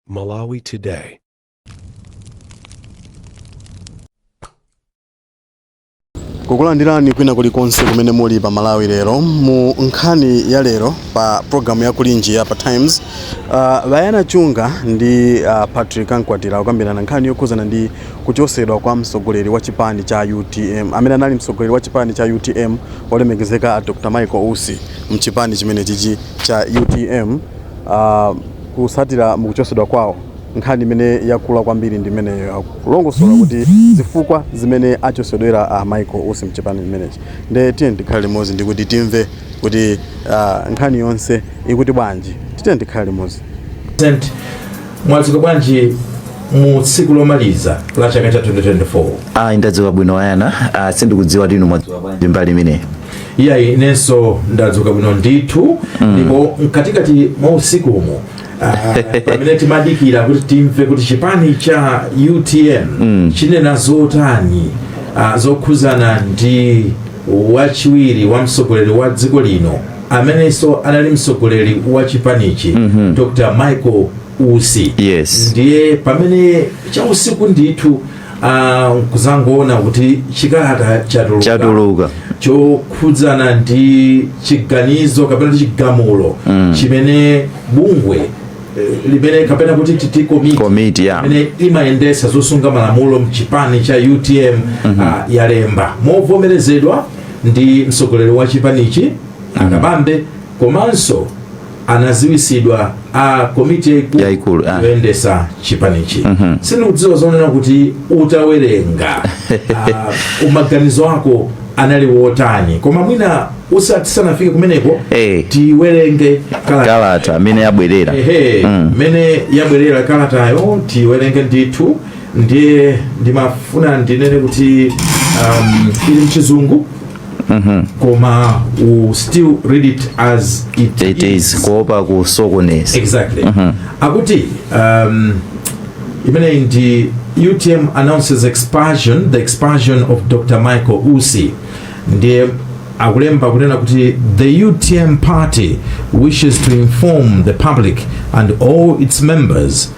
Malawi Today. kukulandirani kwina kulikonse kumene muli pa malawi lero mu nkhani ya lero pa programu ya kulinji ya pa times uh, bayana chunga ndi uh, patrick ankwatira kukambirana nkhani yokhuzana ndi kuchosedwa kwa mtsogoleri wa chipani cha utm amene anali mtsogoleri wa chipani cha utm olemekezeka a dr michael usi mchipani chimenechichi cha utm uh, kusatira mukuchosedwa kwawo nkhani imene yakula kwambiri ndi imeneyo ya kulongosola kuti zifukwa zimene achosedwera a Michael Usi mchipani chimenechi nde tiyeni tikhale limodzi ndikuti timve kuti uh, nkhani yonse ikuti bwanji tiyeni tikhale limodzi mwadzuka bwanji mu tsiku lomaliza la chaka cha 2024 ayi ndadzuka bwino bayana ah, sindikudziwa kuti inu mwadzuka bwanji mbali imeneyi iyayi inenso ndadzuka bwino ndithu ndipo mkatikati mwa usiku umu ah, pamene timadikira kuti timve kuti chipani cha utm chinena zotani ah, zokhuzana ndi wachiwiri wa mtsogoleri wa dziko lino amenenso anali mtsogoleri wa chipanichi dr michael usi Yes. ndiye pamene cha usiku ndithu Ah, kuzangoona kuti chikalata chatuluka chatuluka chokhudzana ndi chiganizo kapena kuti chigamulo chimene bungwe eh, limene kapena kuti titi komiti Komiti, ya. imene imayendesa zosunga malamulo mchipani cha utm ah, yalemba movomerezedwa ndi mtsogoleri wa chipanichi a kabambe komanso anaziwisidwa a komiti yaikulu Yaikulu, ah. yoyendesa chipanichi sindikudziwa zonena kuti utawerenga ah, maganizo ako anali wotani koma mwina tisanafike kumeneko Eh. tiwerenge kalata kalata mmene yabwerera ehe mmene yabwerera kalatayo tiwerenge ndithu ndiye ndimafuna ndinene kuti um, ili mchizungu koma you still read it as it, it is kuopa kusokoneza exactly akuti um, imeneyi ndi utm announces expulsion the expulsion of dr michael usi ndiye akulemba kunena kuti the utm party wishes to inform the public and all its members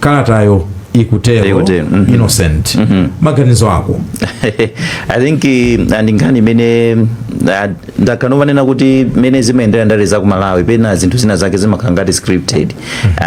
kalatayo ikutero Ikutero, mhm. innocent maganizo ako i think eh, ndi nkhani imene ah, ndakhala nkumanena kuti mene zimayendera ndale za ku malawi pena zinthu zina zake zimakhala ngati scripted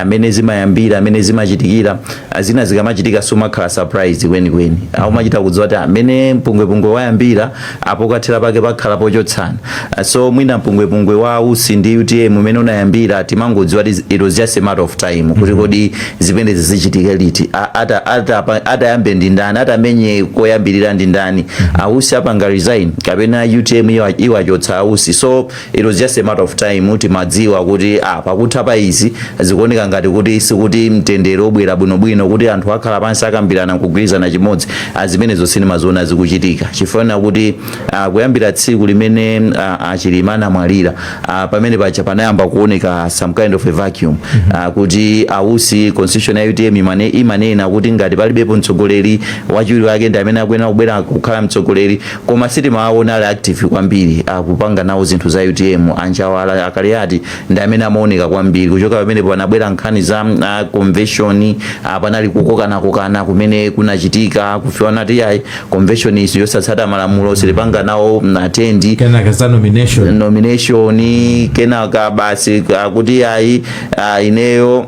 mene zimayambira mene zimachitikira ah, zina zikamachitika sumakhala surprise kwenikweni umachita kudziwa kuti mene mpungwepungwe wayambira apo kathera pake pakhala pochotsana Ah, so mwina mpungwepungwe wa ausi ndi utm umene unayambira timangodziwa kuti it was just a matter of time kuti kodi zimenezi zichitike liti A- ata- ata- atayambe ndi ndani atamenye koyambirira ndi ndani ausi apanga resign kapena utm iwa- iwachotsa ausi so it was just a matter of time timadziwa kuti ah, pakutha pa izi zikuoneka ngati kuti sikuti mtendere ubwera bwinobwino kuti anthu akhala pansi akambirana nkugwirizana chimodzi ah, zimenezo sindimaziona zikuchitika chifukwa kuti ah, kuyambira tsiku limene ah, achilima anamwalira ah, pamene paja panayamba kuoneka some kind of a vacuum ah, kuti ausi constitution ya utm imane, imanena kuti ngati palibepo mtsogoleri wachiwiri wake ndi amene akuyenera kubwera kukhala mtsogoleri Koma sitimawaona ali active kwambiri akupanga nawo zinthu za utm. A Njawala, a Kaliati ndi amene amaoneka kwambiri. Kuchoka pamenepo panabwera nkhani za convention, a panali kukokanakokana kumene kunachitika, kufikana poti iyayi convention iyi siyosatsata malamulo, sitipanga nawo attend. Kenaka za nomination. nomination kenaka basi akuti ayi ah, ineyo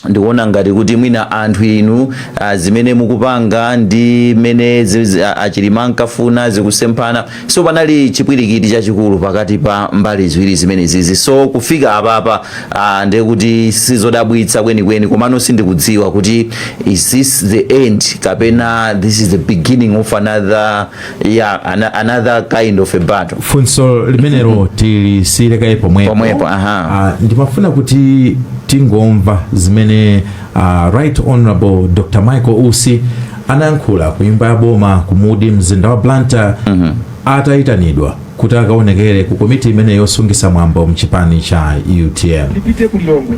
ndikuona ngati kuti mwina anthu inu uh, zimene mukupanga ndi mmene zi- zi- a- achilima ankafuna zikusemphana so panali chipwirikiti chachikulu pakati pa mbali ziwiri zimenezizi so kufika apapa uh, ndiye kuti sizodabwitsa kwenikweni komano sindikudziwa kuti is this the end kapena this is the beginning of another ya ana, another kind of a battle funso limenelo tilisiyire kaye pomwepo Pomwepo, aha. Ah, ndimafuna kuti tingomva zimene ah, right honorable dr michael usi anayankhula ku nyumba ya boma ku mudi mumzinda wa blantyre atayitanidwa kuti akaonekere ku komiti imene yosungitsa mwambo mchipani cha utm ndipite ku lilongwe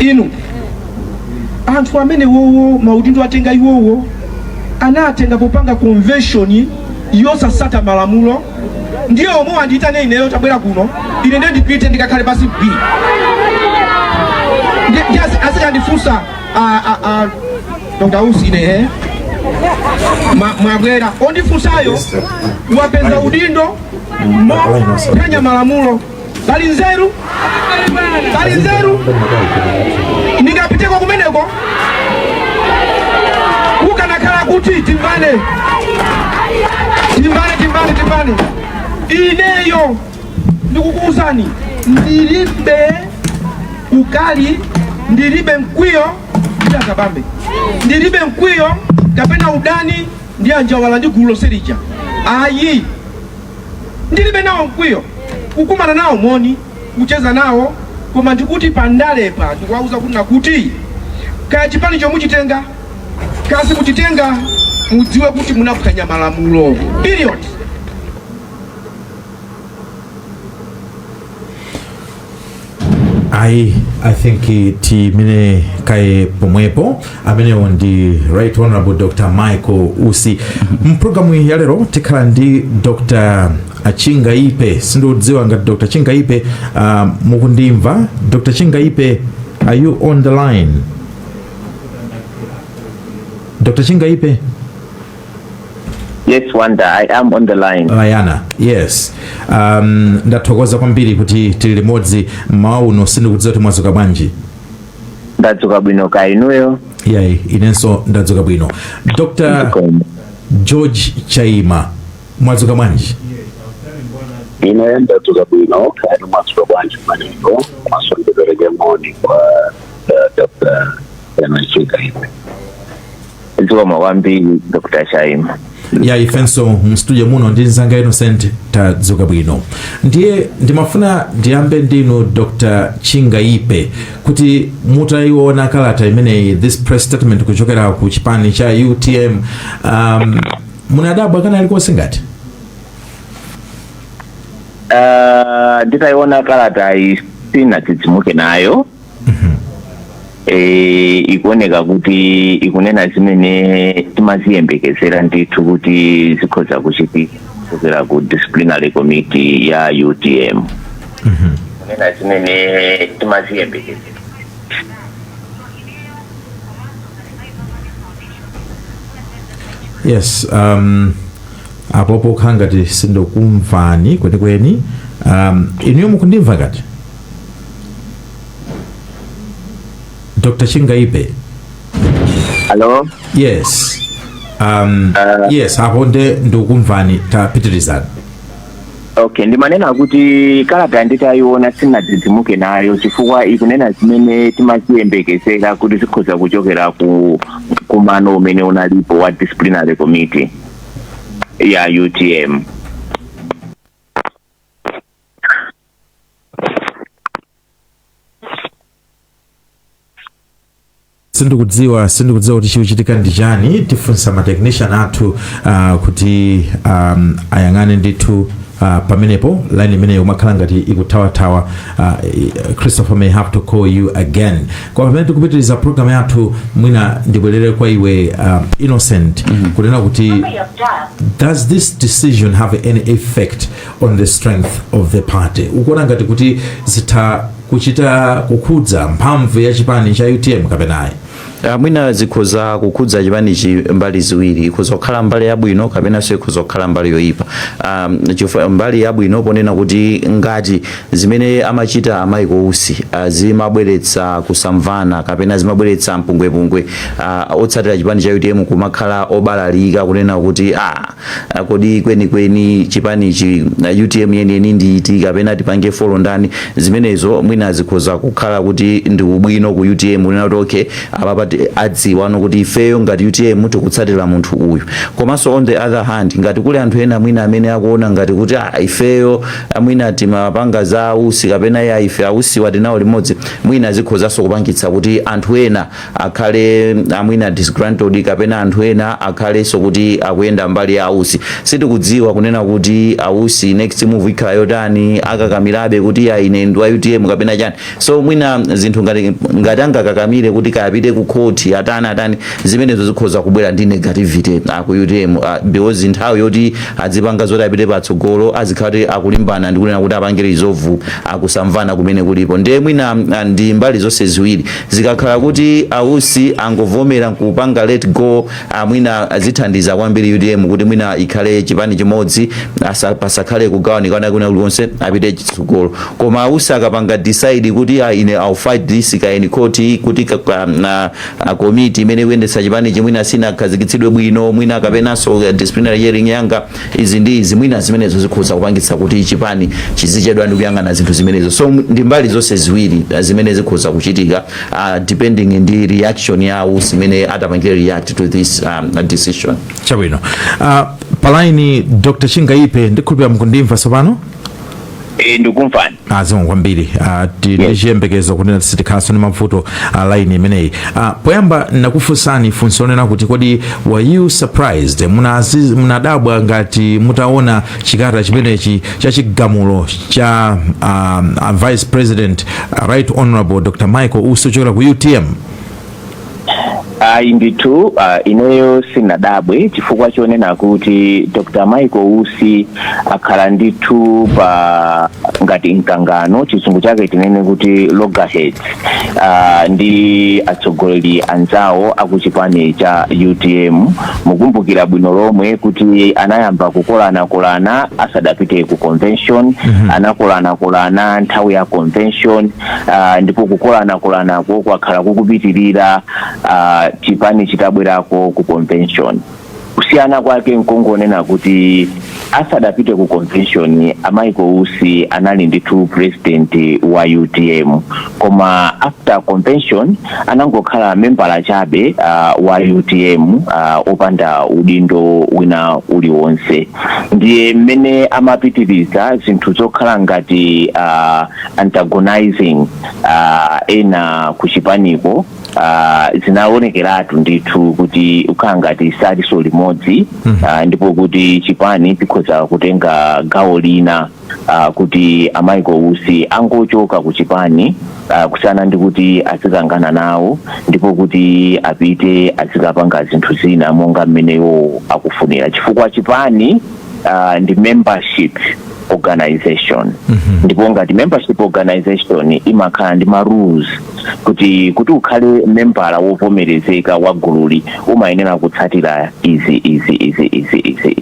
inu anthu amene wowo maudindo atenga iwowo anatenga popanga convention yosatsata malamulo ndiye omwewo andiyitane ineyo tabwera kuno ine ndiye ndipite ndikakhale pansi bwii azikandifunsa ndausi ine eh? Ma- mwabwera ondifunsayo wapeza udindo mophwanya malamulo pali nzeru pali nzeru ndingapiteko kumeneko kukanakhala kuti timbane timbane timbane timbane ineyo ndikukuuzani ndilibe ukali ndilibe mkwiyo ndi akabambe ndilibe mkwiyo kapena udani ndi anjawala ndi gulu lonse lija ayi ndilibe nawo mkwiyo kukumana nawo moni kucheza nawo koma ndikuti pandalephera ndikuwauza kuti nakuti kaya chipani chomuchitenga kasi muchitenga mudziwe kuti munaphwanya malamulo period ayi i think eh, tiime kaye pomwepo amenewo ndi right honorable dr michael usi mpulogalamu ya lero tikhala ndi dr chingaipe sindikudziwa ngati dr chingaipe uh, mukundimva dr chingaipe are you on the line dr chingaipe Yes, Wanda, I am on the line. layana yes um, ndathokoza kwambiri kuti tili limodzi mmawa uno sindikudziwa kuti mwadzuka bwanji Ndadzuka bwino kaya inuyo. ayi inenso ndadzuka bwino dr Zikomo. george chaima mwadzuka bwanji ine ndadzuka bwino kaya mwadzuka bwanji manengo komanso ndipereke moni kwa eh, dr chingaipe zikomo kwambiri dr chaima ya ifenso mstudio muno ndi nzanga innocent tadzuka bwino ndiye ndimafuna ndiyambe ndinu dr chingaipe kuti mutaiona kalata imeneyi this press statement kuchokera ku chipani cha utm um, munadabwa kwina kulikonse ngati Ah, nditaiona kalatayi sindinadzidzimuke nayo e, ikuoneka kuti ikunena zimene timaziyembekezera ndithu kuti zikhoza kuchitika kuchokera ku disciplinary committee ya utm kunena zimene timaziyembekezera yes um, apopo kukhala ngati sindikukumvani kwenikweni um, inuyo mukundimva ngati dr chingaipe Hello. yes um, Uh, yes apo nde ndikukumvani tapitirizani Okay, ndimanena kuti kalata nditayiona sindinadzidzimuke nayo chifukwa ikunena zimene timaziyembekezera kuti zikhoza kuchokera ku mkumano umene unalipo wa disciplinary committee ya UTM. sindikudziwa sindikudziwa kuti chikuchitika ndi chani tifunsa ma technician athu uh, kuti um, ayang'ane ndithu uh, pamenepo line imeneyo imakhala ngati ikuthawathawa uh, christopher may have to call you again pamene tikupitiriza program yathu mwina ndibwerere kwa iwe uh, innocent kunena kuti does this decision have any effect on the strength of the party ukuona ngati kuti zitha kuchita kukhudza mphamvu ya chipani cha utm kapena ayi Ah, mwina zikhoza kukhudza chipanichi mbali ziwiri ikhoza kukhala mbali yabwino kapenanso ikhoza kukhala mbali yoyipa um, chifukwa mbali yabwino ponena kuti ngati Zimene amachita a Michael Usi zimabweretsa kusamvana kapena zimabweretsa mpungwepungwe otsatira chipani cha utm kumakhala obalalika kunena kuti aah kodi kwenikweni chipanichi utm yeniyeni ndi iti kapena tipange follow ndani zimenezo mwina zikhoza kukhala kuti ndi ubwino ku utm kunena kuti okay apapa ti- adziwa kuti ifeyo ngati utm tikutsatira munthu uyu komanso on the other hand ngati kuli anthu ena mwina amene akuona ngati kuti ah ifeyo Ah, mwina timapanga za a Usi kapena ya ife a Usiwa tinawo limodzi mwina zikhozanso kupangitsa kuti anthu ena akhale ah, mwina disgruntled kapena anthu ena akhalenso kuti akuyenda mbali ya a Usi sitikudziwa kunena kuti a Usi next move ikhala yotani akakamirabe kuti a ine ndi wa utm kapena chani so mwina zinthu ngati angakakamire kuti apite ku khoti atani atani zimenezo zikhoza kubwera ndi negativity ah, ku utm ah, because nthawi yoti azipanga zoti apite patsogolo azikhala kuti akulimbana ndi kunena kuti apange resolve kusamvana kumene kulipo ndiye mwina ah, ndi mbali zonse ziwiri zikakhala kuti a Usi angovomera kupanga let go a mwina zithandiza kwambiri utm kuti mwina ikhale chipani chimodzi asa- pasakhale kugawanikana kwina kulikonse apite chitsogolo koma a Usi akapanga decide kuti ah, ine I'll fight this kaya in court kuti ka- ka- na- a komiti imene ikuyendetsa chipanichi mwina sinakhazikitsidwe bwino mwina kapenanso eh, disciplinary hearing yanga izi ndi izi mwina zimenezo zikhoza kupangitsa kuti chipani chizichedwa ndi kuyang'ana zinthu zimenezo so ndi mbali zonse ziwiri eh, zimene zikhoza kuchitika uh, depending ndi reaction ya usi mmene atapangire react to this um, decision chabwino uh, pa laini dr chingaipe ndikhulupira mukundimva tsopano Eh, ndikukumvani zikomo kwambiri ah, ti- ndi chiyembekezo kunena sitikhalanso ndi mavuto a laini imeneyi Ah, poyamba ndinakufunsani funso lonena kuti kodi were you surprised Munazi- munadabwa ngati mutaona chikalata chimenechi cha chigamulo cha um, uh, vice president uh, right honorable dr michael usi chochokera ku utm ayi ndithu uh, ineyo sinadabwe chifukwa chonena kuti dr michael usi akhala ndithu pa ngati mkangano chizungu chake tinene kuti loggerheads uh, ndi atsogoleri anzawo akuchipani cha utm mukumbukira bwino lomwe kuti anayamba kukolanakolana asadapite ku convention mm -hmm. anakolanakolana nthawi ya convention uh, ndipo kukolanakolanako kwakhala kukupitirira uh, chipani chitabwerako ku convention Kusiyana kwake nkongonena kuti asadapite ku convention a michael usi anali ndithu president wa utm koma after convention anangokhala membala chabe uh, wa utm uh, opanda udindo wina uliwonse ndiye mmene amapitiriza zinthu zokhala ngati uh, antagonizing uh, ena kuchipaniko ah, zinaonekeratu ndithu kuti akhala ngati saliso limodzi ah, ndipo kuti chipani chikhoza kutenga gawo lina ah, kuti a michael usi angochoka ku chipani ah, kusiyana ndi kuti azikangana nawo ndipo kuti apite azikapanga zinthu zina monga mmene iwo akufunira chifukwa chipani ah, ndi membership organization ndipo ngati membership organization imakhala ndi ma rules kuti kuti ukhale membala wovomerezeka wa gululi umayenera kutsatira izi izi izi izi izi izi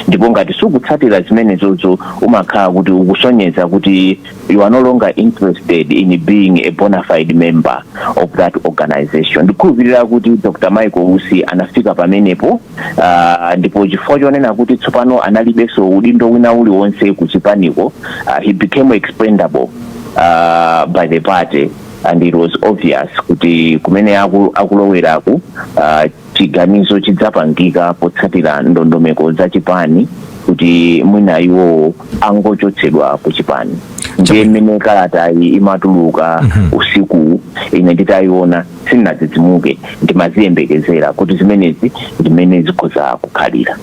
ndipo ngati sukutsatira zimenezozo umakhala kuti ukusonyeza kuti you are no longer interested in being a bona fide member of that organization ndikhulupirira kuti dr michael usi anafika pamenepo Uh, ndipo chifukwa chonena kuti tsopano analibenso udindo wina uliwonse ku chipaniko uh, he became expendable uh, by the party and it was obvious kuti kumene aku- akuloweraku uh, chiganizo chidzapangika potsatira ndondomeko za chipani kuti mwina iwowo angochotsedwa ku chipani ndiye mmene kalatayi imatuluka usiku ine nditayiona sindinadzidzimuke, ndimaziyembekezera kuti zimenezi ndi mmene zikhoza kukhalira.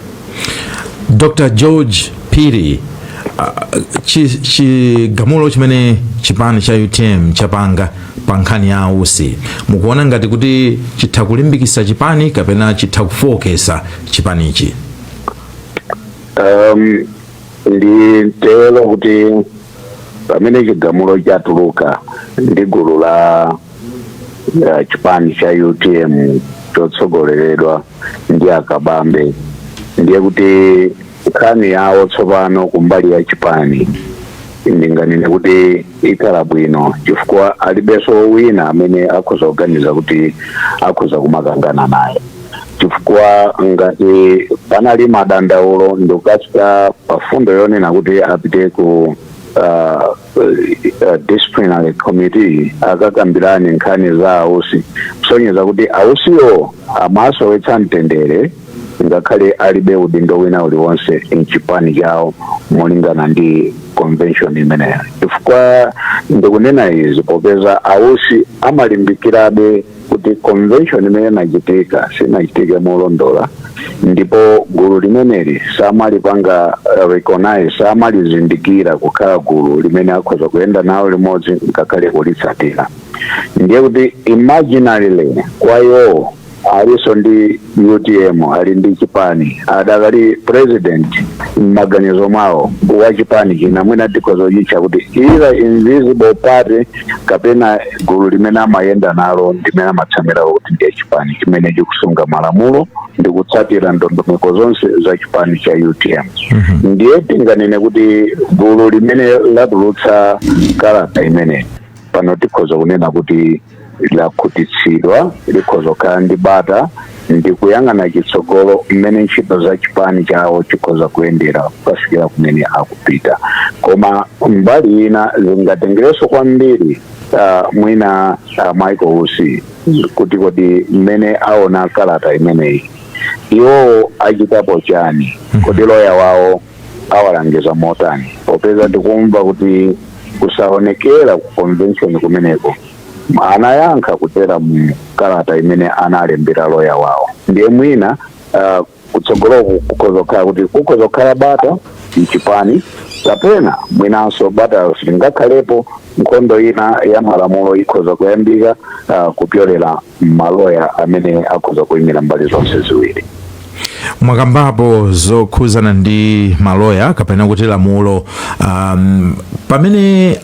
Dr. George Phiri, ah, chi- chigamulo chimene chipani cha utm chapanga pa nkhani ya ausi mukuona ngati kuti chitha kulimbikitsa chipani kapena chitha kufooketsa chipanichi um, nditero kuti pamene chigamulo chatuluka ndi gulu la ya chipani cha utm chotsogoleredwa ndi akabambe ndiye kuti nkhani yawo tsopano kumbali ya chipani ndinganene kuti ikhala bwino chifukwa alibenso wina amene akhoza kuganiza kuti akhoza kumakangana naye chifukwa ngati panali madandaulo ndikukafika pa mfundo yonena kuti apite ku uh, uh, disciplinary committee akakambirane nkhani za a Usi kusonyeza kuti a Usiwo amasowetsa mtendere ngakhale alibe udindo wina uliwonse mchipani chawo molingana ndi convention imeneyo chifukwa ndikunena izi popeza a Usi amalimbikirabe kuti convention imene inachitika sinachitike molondola ndipo gulu limeneli samalipanga uh, recognize samalizindikira kukhala gulu limene akhoza kuyenda nawo limodzi ngakhale kulitsatira ndiye kuti imaginarily kwa iwowo aliso ndi utm ali ndi chipani adakali president m'maganizo mwawo wa chipani china mwina tikhoza kuchitcha kuti either invisible party kapena gulu limene amayenda nalo limene amatsamira kuti ndiye chipani chimene chikusunga malamulo ndi kutsatira ndondomeko zonse za chipani cha utm ndiye tinganene kuti gulu limene latulutsa kalata imeneyi pano tikhoza kunena kuti lakhutitsidwa likhoza kukhala ndi bata ndi kuyang'ana chitsogolo mmene ntchito za chipani chawo zikhoza kuyendera kukafikira kumene akupita koma mbali ina zingatengereso kwambiri uh, mwina uh, michael usi kuti kodi mmene aona kalata imeneyi iwowo achitapo chani kodi loya wawo awalangiza motani popeza tikumva kuti kusaonekera ku convention kumeneko anayankha kudzera mu kalata imene analembera loya wawo ndiye mwina uh, kutsogoloku kukhoza kukhala kuti kukhoza kukhala bata mchipani kapena mwinanso bata silingakhalepo nkhondo ina ya malamulo ikhoza kuyambika uh, kupyolera maloya amene akhoza kuyimira mbali zonse ziwiri mwakambapo zokhuzana ndi maloya kapena kuti lamulo um, pamene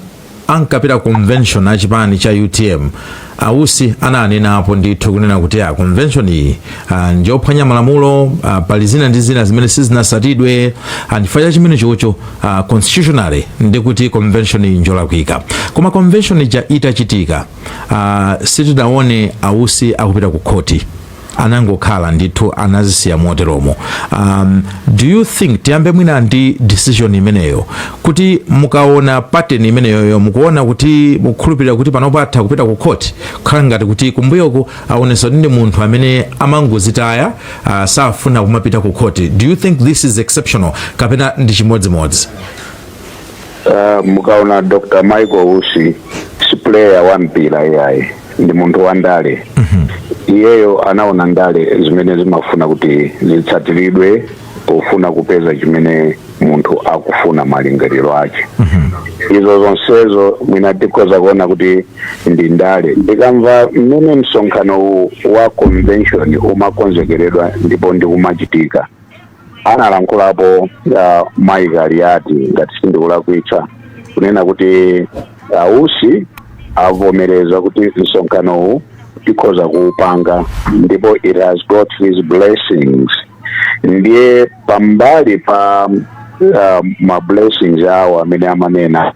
ankapita ku convention a chipani cha utm a Usi ananenapo ndithu kunena kuti a convention iyi ah, njophwanya malamulo ah, pali zina ndi zina zimene sizinasatidwe ah, chifukwa cha chimene chocho ah, constitutionally ndiye kuti convention iyi njolakwika koma convention ija itachitika ah, sitinaone a Usi akupita ku khoti anangokhala ndithu anazisiya moteromo um, do you think tiyambe mwina ndi decision imeneyo kuti mukaona pattern imeneyoyo mukuona kuti mukukhulupirira kuti panopo atha kupita ku khoti kukhala ngati kuti kumbuyoku aonesa kuti ndi munthu amene amangozitaya uh, safuna kumapita ku khoti do you think this is exceptional kapena ndi chimodzimodzi mukaona dr michael usi si player wa mpira iyayi ndi munthu wa ndale iyeyo anaona ndale zimene zimafuna kuti zitsatiridwe pofuna kupeza chimene munthu akufuna malingaliro ake izo zonsezo mwina tikhoza kuona kuti ndi ndale ndikamva mmene msonkhano wa convention umakonzekeredwa ndipo ndikumachitika analankhulapo uh, mayi kaliati ngati sindikulakwitsa kunena kuti ausi avomereza kuti msonkhanowu tikhoza kuupanga ndipo it has got his blessings ndiye pambali pa uh, ma blessings awo amene amanena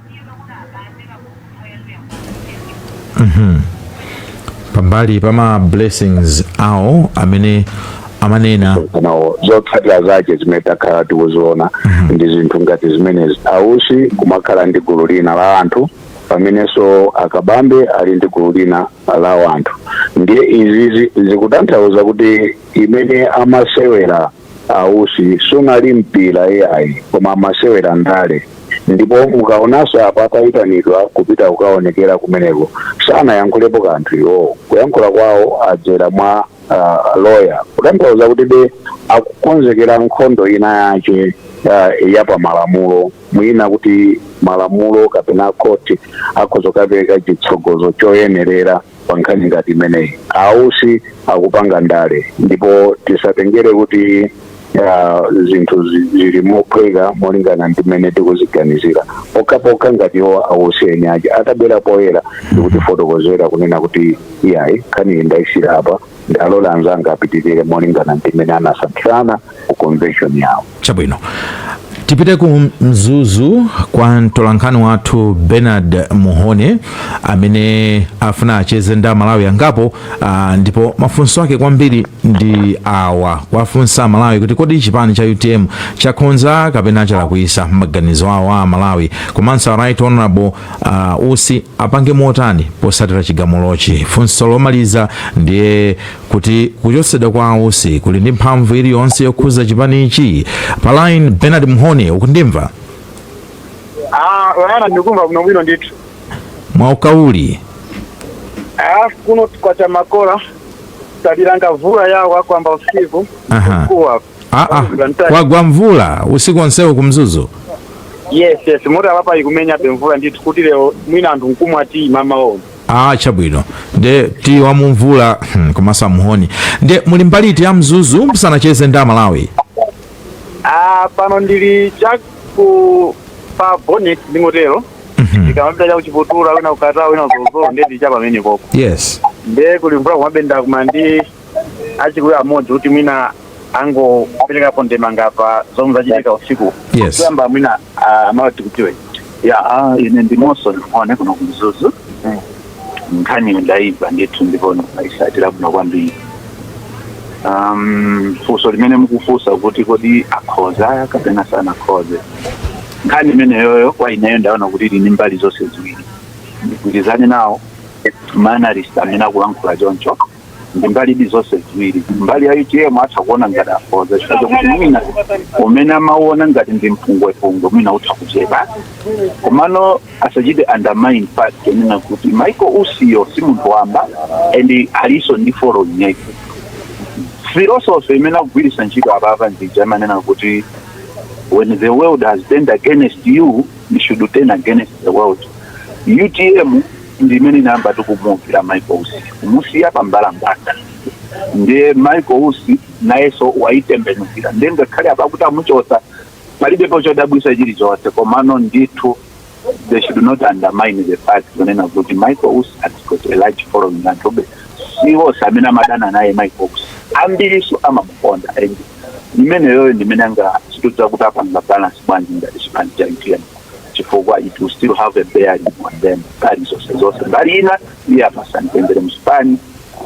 pambali pa ma blessings awo amene amanenawo zotsatira zake zimene takhala tikuziona ndi zinthu ngati zimenezi ausi kumakhala ndi gulu lina la anthu pamenenso akabambe ali ndi gulu lina la anthu ndiye izizi zikutanthauza kuti imene amasewera a usi sunali mpira iyayi koma amasewera ndale ndipo mukaonanso apa atayitanidwa kupita kukaonekera kumeneko sanayankhulepo kanthu iwowo kuyankhula kwawo adzera mwa uh, lawyer kutanthauza kuti be akukonzekera nkhondo ina yache uh, ya pamalamulo mwina kuti malamulo kapena khoti akhoza kukapereka chitsogozo choyenerera pa nkhani ngati imeneyi ausi akupanga ndale ndipo tisatengere kuti ah, zinthu zi- zili mophweka molingana ndi mmene tikuziganizira pokhapokha ngati iwo ausi eni ache atabwera poyera ndikutifotokozera kunena kuti iyayi nkhaniyi ndayisiyira apa ndalola anzanga apitirire molingana ndi mmene anasankhirana ku convention yawo chabwino tipite ku mzuzu kwa mtolankhani wathu bernard mhone amene afuna acheze ndi amalawi angapo ah, ndipo mafunso ake kwambiri ndi awa kuwafunsa amalawi kuti kodi chipani cha utm chakhonza kapena chalakwisa maganizo awo a amalawi komanso a right honorable a usi apange motani posatira chigamulochi funso lomaliza ndiye kuti kuchotsedwa kwa ausi kuli ndi mphamvu iliyonse yokhuza chipanichi pa line bernard mhone ukundimva Ah, bwana ndikumva kuno bwino ndithu. mwauka uli Ah, kuno kwacha makola talilanga vula yawa kwamba usiku Aha. kuwa Ah, ah, kwagwa mvula usiku onsewo ku mzuzu yes yes moti apapa ikumenyabe mvula ndithu kuti lero mwina anthu nkumawati mmawawo ah, chabwino nde ti wamumvula hmm, koma a muhone nde muli mbali iti ya mzuzu musanacheze ndi amalawi ah, pano ndili chaku pa bonnet ndingotero ndikamapita chakuchiputura wina kukata wina kuzozo nde ndili cha pamene poko yes nde kuli mvula kumabenda kuma ndi achikuya amodzi kuti mwina angoperekapo ndemanga pa zomwe zachitika usiku Yes. kuyamba mwina ah, amawati kuti ya ah, ine ndi monson muhone kuno ku mzuzu nkhani ndayimva ndithu ndipo ndayisatira bwino kwambiri um, funso limene mukufunsa kuti kodi akhoza kapena sanakhoze nkhani imeneyoyo kwa ineyo ndaona kuti ili ndi mbali zonse ziwiri ndigwirizane nawo ma analyst amene akulankhula choncho ndi mbalidi zonse ziwiri mbali ya utm atha kuona ngati akhoza chifukwa chakuti mwina umene amauona ngati ndi mpungwepungwe mwina utha kuchepa komano asachite undermine fact yonena kuti michael usiyo si munthu wamba and alinso ndi following yake philosophy imene akugwiritsa ntchito apapa ndi ija amanena kuti when the world has turned against you you should turn against the world utm ndi imene inayambadi kumuukira michael usi kumusiya pa mbalambanda ndiye michael usi nayenso wayitembenukira ndiye ngakhale apa kuti amuchotsa palibepo chodabwisa chilichonse komano ndithu they should not undermine the fact kunena kuti michael usi has got a large following anthu siwonse amene amadana naye michael usi ambiriso amamukonda and imeneyoyo ndimene angachite kudziwa kuti apanga balance bwanji ngati chipani cha utm chifukwa it will still have a bearing on them mbali zonse zonse mbali ina iyo apeza mtendere mchipani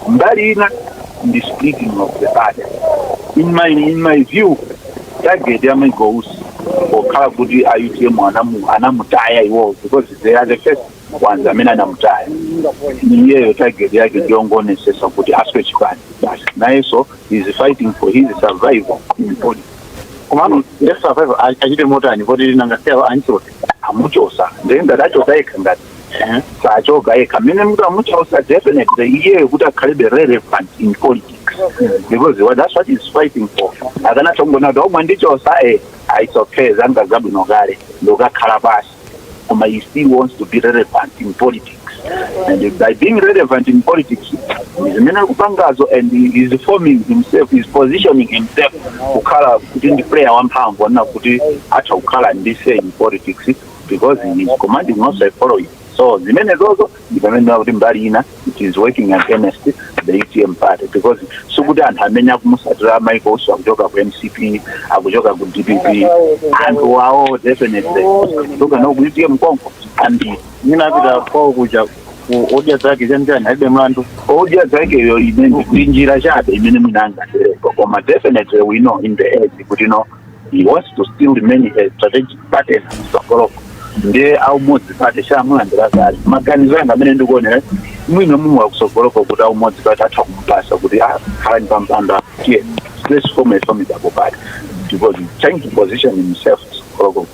mbali ina ndi splitting of the party in my, in my view target ya michael usi pokhala kuti a utm anamu- anamutaya iwowo because they are the first ones amene anamutaya iyeyo target yake ndi yongoonesesa kuti aswe chipani basi nayenso is fighting for his survival in politics komano nde survival achite motani poti nanga si apa amchosa amuchosa ndiye ngati achoka yekha ngati eh, sachoka yekha mmene akuti amuchosa definitely iyeyo kuti akhalebe relevant in politics because what- that's what he's fighting for akanatha kungonena kuti oh mwandichosa eh, ah, it's okay zanga zabwino kale ndokakhala pasi Koma he still wants to be relevant in politics. And by being relevant in politics, ndi zimene akupangazo and he is forming himself, he's positioning himself kukhala kuti ndi player wamphamvu wonena kuti atha kukhala ndi say in politics because he is commanding also a following. So zimenezozo ndi pamene ndinaona kuti mbali ina it is working against the utm party because sikuti anthu amene akumusatira michael usi akuchoka ku mcp akuchoka ku dpp anthu wawo definitely kuchoka no ku utm konko and ninapita kwao kuja odya zake chanichani alibe mlandu odya zakeyo imene ndi njira chabe imene mwina angaterepo koma definitely we know in the end kuti no he wants to still remain a strategic partner mtsogoloko ndiye aumodzi pati amulandira kale maganizo anga amene ndikuonera mwina mwine wakutsogoloko kuti aumodzi pati atha kumupasa kuti ah, khalani pampando tiye let's form a formidable party because he's trying to position himself mtsogoloko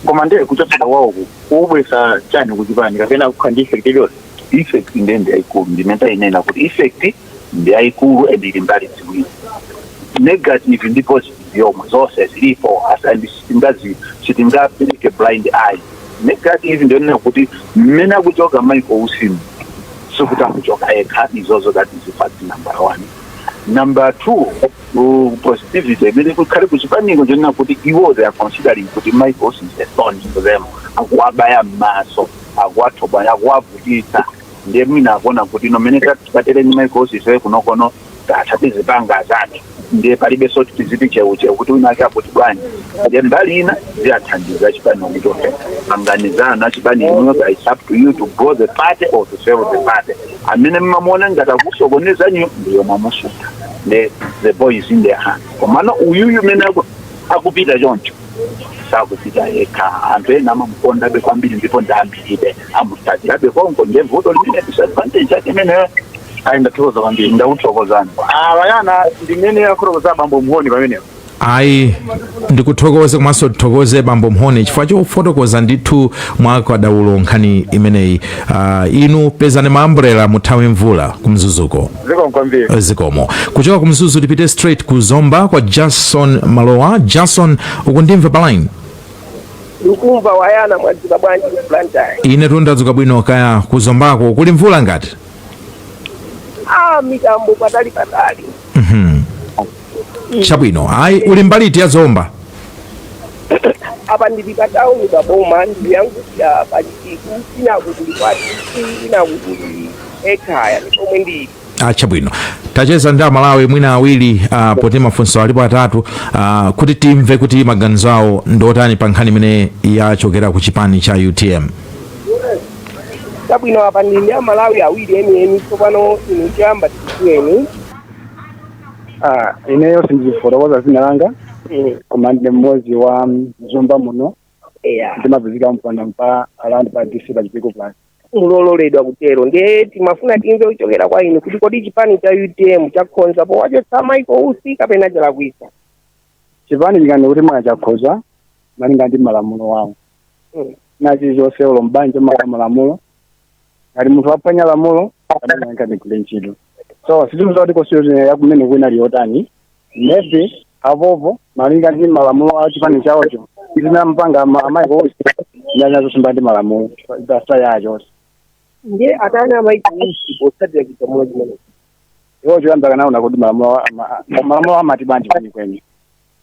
koma ndiye kuchotsa wawo kuubwesa chani kuchipani kapena kukhala ndi effect iliyonse effect nde ndi yayikulu ndimene tayinena kuti effect ndi yayikulu and ili mbali ziwiri negative ndi positive yomwe zonse zilipo as- and sitingazi sitingapereke blind eye negative ndiyonena kuti mmene akuchoka michael usimu sikuti akuchoka yekha izozo that is fact number one number two uh, positivity imene kukhale kuchipaniko ndiyonena kuti iwo they are considering kuti michael usi is a thorn to them akuwabaya m'maso akuwathobwa akuwavutitsa ndiye mwina akuona kuti no mmene tatere ndi michael usi ife kunokono tatha tizipanga zathu ndiye palibe zoti tiziti cheucheu kuti wina ake akuti bwanji ndiye mbali ina ziyathandiza chipani kuti okay panganizana chipani inuyo but it's up to you to grow the party or to fail the party amene mumamuona ngati akusokonezanyo ndiyo mwamuchotsa the the ball is in their hand komano uyuyu mene aku- akupita choncho sakupita yekha anthu ena amamukondabe kwambiri ndipo ndi ambiri be amutsatirabe konko ndiye vuto limene disadvantage yake imeneyo ayi ndathokoza kwambiri ndakuthokozani awayana ndimene akuthokoza abambo mhoni pamenepo ayi ndikuthokoze komanso tithokoze bambo mhoni chifukwa chofotokoza ndithu mwa kadaulo nkhani imeneyi Ah, inu pezani maambrela muthawe mvula kumzuzuko zikomo kwambiri zikomo kuchoka kumzuzu tipite straight ku zomba kwa jason malowa jason ukundimva pa line Ndikukumva wayana mwadzuka bwanji ku Blantyre? ine tu ndadzuka bwino kaya kuzombako kuli mvula ngati Ah, mitambo patali patali. Mhm. chabwino ayi uli mbali iti ya zomba Apa ndili pa tauni pa boma ndili yankuja pa chipiku inaku kuli kwa dc inaku kuli ekhaya ndi pomwe ndili. Ah, chabwino ticheza ndi amalawi mwina awiri ah, poti mafunso alipo atatu ah, kuti timve kuti maganizo awo ndiotani pa nkhani imene yachokera ku chipani cha utm chabwino apa ndili ndi amalawi awiri enieni tsopano inu choyamba tikudziweni Ah, ineyo sindifotokoza dzina langa koma ndi mmodzi wa mzomba muno eya ndimapezeka mpanda mpa around pa dc pa chipiku plus mulololedwa kutero ndiye timafuna timve kuchokera kwa inu kuti kodi chipani cha utm chakhonza powachotsa michael usi kapena chalakwisa chipani chikani kuti mwina chakhoza malinga ndi malamulo wawo Mm. chilichonse ulo mbanje maka malamulo ngati munthu waphwanya lamulo adananga ndigule ntchito so sitimuza kuti constitution yakumene kwina liyotani maybe apopo malinga ndi malamulo a chipani chawocho ndinampanga a michael usi ndanyazo simba ndi malamulo basa yacho ndiye atani a michael usi potsatira chigamulo chimene iwo choyamba kanaona kuti malamulo a- ma- a- malamulo amati bwanji kwenikweni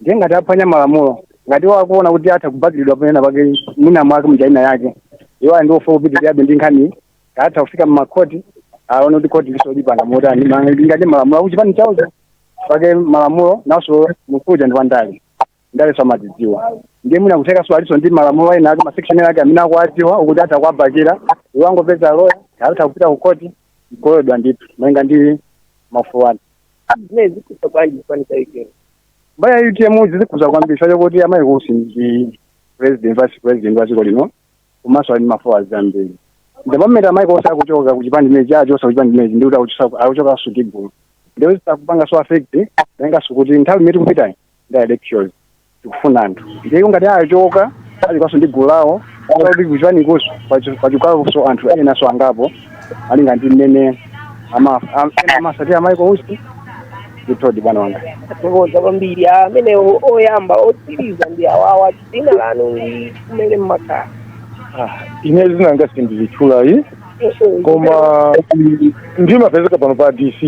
ndiye ngati aphwanya malamulo ngati iwo akuona kuti atha kubakiridwa pena pake mwina mwake mjaina yake iwo ali ndi ufulu wopitirirabe ndi nkhani atha kufika mmakhoti aone kuti khoti lizaipanga motani malinga ndi malamulo akuchipani chawocho pake malamulo naso nkuja ndi wandale ndale zamazidziwa ndiye mwina kutheka aliso ndi malamulo ena ake masection ena ake amene akuwadziwa kuti atha kuwabakira iwo angopeza loya atha kupita ku koti mkololedwa ndithu malinga ndi mafulu ake zimene zikhuza bwanji chipani cha utm mbali ya utm zizikhuza kwambiri chifukwa chokuti a michael usi ndi president vice president wa dziko lino komanso ali ndi mafollowers ambiri ndipo mmene a michael usi akuchoka kuchipani chimene chawachosa kuchipani chimenechi ndikuti akuchosa- akuchokanso ndi gulu ndipo zitha kupangaso affect tenganso kuti nthawi imene tikupitayi ndi elections tikufuna anthu ndipo ngati achoka achokanso ndi gulu lawo kuti kuchipani kuso pachokanso anthu enanso angapo malinga ndi mmene ama- am- ena amasatira a michael usi ndithodi bwana wanga Tathokoza kwambiri amene oyamba otsiriza ndi awawa dzina lanu ndi kumene mmakhala Ah, ine zina langa sindilitchulayi koma ndimapezeka pano pa dc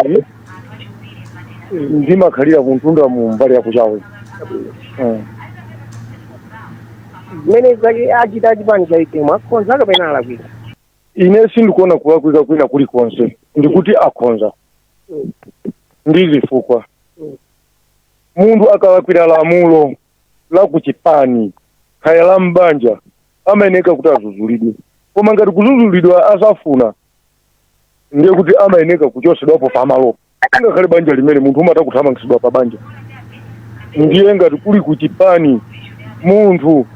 ndimakhalira kuntunda mu mbali ya kuchawe Eh. zimene zake achita achipani cha utm akhonza kapena alakwira ine sindikuona kulakwika kwina kulikonse ndikuti akhonza ndi zifukwa munthu akalakwira lamulo la ku chipani kaya la m'banja amayeneka kuti azuzulidwe koma ngati kuzuzulidwa asafuna ndiye kuti amayeneka kuchosedwapo pamalopo ngakhale banja limene munthu umatha kuthamangitsidwa pa banja ndiye ngati kuli ku chipani munthu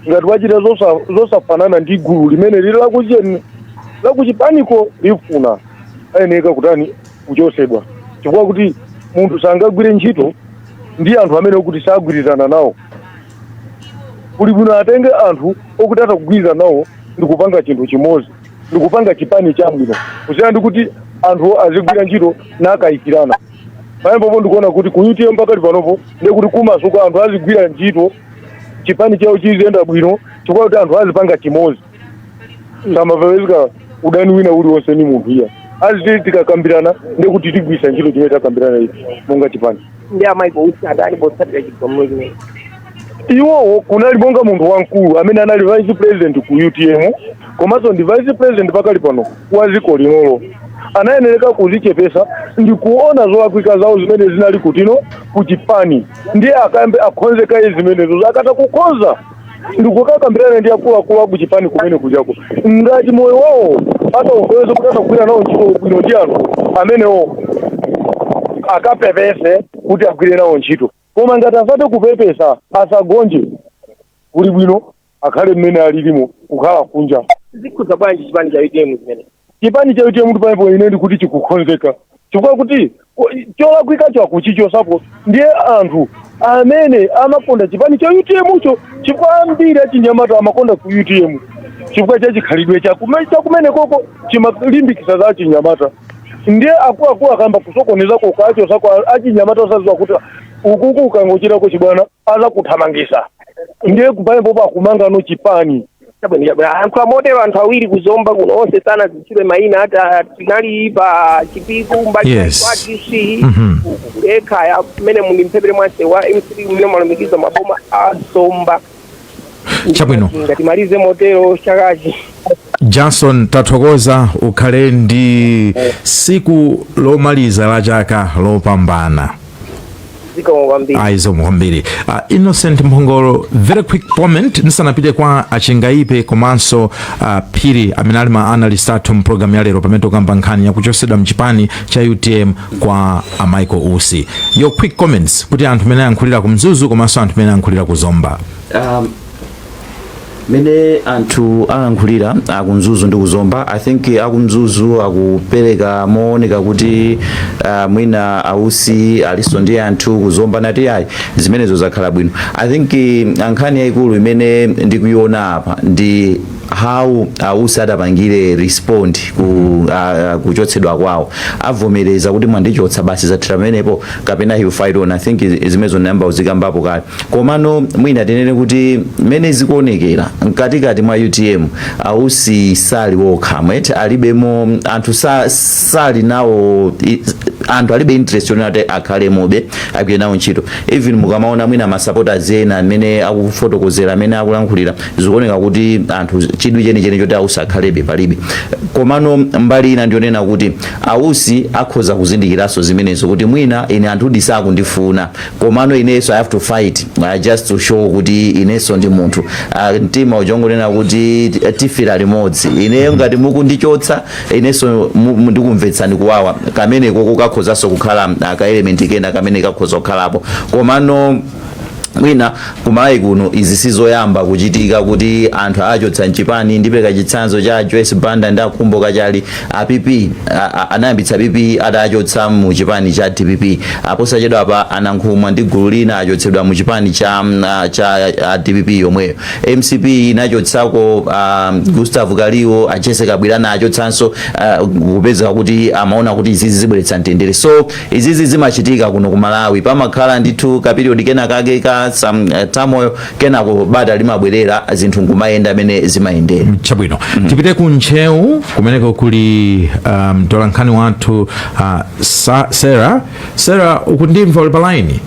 ngati wachita zosa- zosafanana ndi gulu limene lili lakucheni lakuchipaniko lifuna ayeneka kutani kuchosedwa chifukwa kuti munthu sangagwire ntchito ndi anthu amene okuti sagwirizana nawo kuli bwino atenge anthu okuti atha kugwirizana nawo ndi kupanga chinthu chimodzi ndi kupanga chipani chabwino kusiyana ndi kuti anthu azigwira ntchito mokayikirana pamenepopo ndikuona kuti ku utm pakali panopo ndiye kuti kumasuka anthu azigwira ntchito chipani chawo chiziyenda bwino chifukwa kuti anthu azipanga chimodzi samapezeka udani wina uliwonse ndi munthu iyayi aziti tikakambirana ndiye kuti tigwisa ntchito chimene takambirana ichi monga chipani ndi a Michael usi adali potsatira chigamulo chimene iwowo anali monga munthu wamkulu amene anali vice president ku utm komanso ndi vice president pakali pano wa dziko linolo anayenereka kuzichepesa ndi kuona zolakwika zawo zimene zinali kutiko ku chipani ndiye akayambe akhonze kaye zimenezo akata kukhonza ndikukakambirane ndi akuluakulu akuchipani kumene kujako ngati moyo wawo ataukweza kuti asakugwira nawo ntchito bwino ndi anthu amenewo akapepese kuti agwire nawo ntchito koma ngati asate kupepesa asagonje kuli bwino akhale mmene alilimo kukhala kunja zikhuza bwanji chipani cha utm zimene chipani cha utm ndi pamenepo ine ndikuti chikukhonzeka chifukwa chakuti ko- cholakwikacho akuchichosapo ndiye anthu amene amakonda chipani cha utmcho chifukwa ambiri achinyamata amakonda ku utm chifukwa cha chikhalidwe chakume- chakumene koko chimalimbikisa za achinyamata ndiye akuluakulu akayamba kusokoneza kokacho sako achinyamata osaziwa kuti ukuku ukangochitako chibwana azakuthamangisa ndiye kupanepopo akumanga chipani Chabwino, chabwino. Anthu amotero anthu awiri kuzomba kuno onse sanazitchule maina ata tinali pa chipiku mbali Yes. kwa DC Mhm. kulekha ya kumene muli mphepete mwase wa MCP kumene mwalumikiza maboma a zomba Chabwino. titamalize motero chakachi Johnson tathokoza ukhale ndi siku lomaliza la chaka lopambana zikomo kwambiri ayi zikomo kwambiri uh, innocent mphongolo very quick comment ndisanapite kwa achingaipe komanso uh, phiri amene ali ma analyst athu mpulogalamu ya lero pamene tikukamba nkhani yakuchosedwa mchipani cha utm kwa a michael usi your quick comments kuti anthu amene ayankhulirako ku mzuzu komanso anthu amene ayankhulira ku zomba um, mene anthu alankhulirira akumzuzu ndi kuzomba i think akumzuzu akupereka maonekedwe akuti uh, mwina ausi aliso ndi anthu kuzomba akuti ayi zimenezo zakhala bwino i think eh, nkhani yayikulu imene ndikuiona apa ndi how ausi atapangire respond ku uh, kuchotsedwa kwawo avomereza kuti mwandichotsa basi zathira pamenepo kapena he will fight on i think zimenezo ndayamba kuzikambapo kale komano mwina tinene kuti mmene zikuonekera mkatikati mwa utm ausi sali wokha mwete alibemo anthu sa, sali nawo i- anthu alibe interest yonena kuti akhalemobe agwire nawo ntchito even mukamaona mwina masapotazi ena mmene akufotokozera mmene akulankhulira zikuoneka kuti anthu chidwi chenicheni choti ausi akhalebe palibe komano mbali ina ndiyonena kuti ausi akhoza kuzindikiranso zimenezo kuti mwina ine anthu sakundifuna komano ineso i have to fight uh, just to show kuti ineso ndi munthu uh, mtima uja ungonena kuti eh, tifira limodzi ineyo ngati mukundichotsa ineso mu- mu- ndikumvetsani kuwawa kameneko kukakhozanso kukhala uh, ka element kena kamene kakhoza kukhalapo komano mwina kumalawi kuno izi sizoyamba kuchitika kuti anthu achotsa mchipani ndipeleka chitsanzo cha joyce banda ndi akhumbo kachali a PP anayambitsa pp atachotsedwa mu chipani cha dpp aposachedwapa a Nankhumwa ndi gulu lina achotsedwa mu chipani cha, mm, ah, cha ah, dpp yomweyo mcp inachotsako ah, gustav kaliwo a Jessie Kabwila ana achotsanso ah, kupeza kuti amaona kuti izizi zibweretsa mtendere so Izizi zimachitika kuno ku Malawi pamakhala ndithu ka period kena kake ka some uh, turmoil kenako bata limabwerera zinthu nkumayenda mmene zimayendera chabwino tipite ku ntcheu kumeneko kuli ah, mtolankhani wathu ah, Sa- sarah sarah ukundimva uli palaini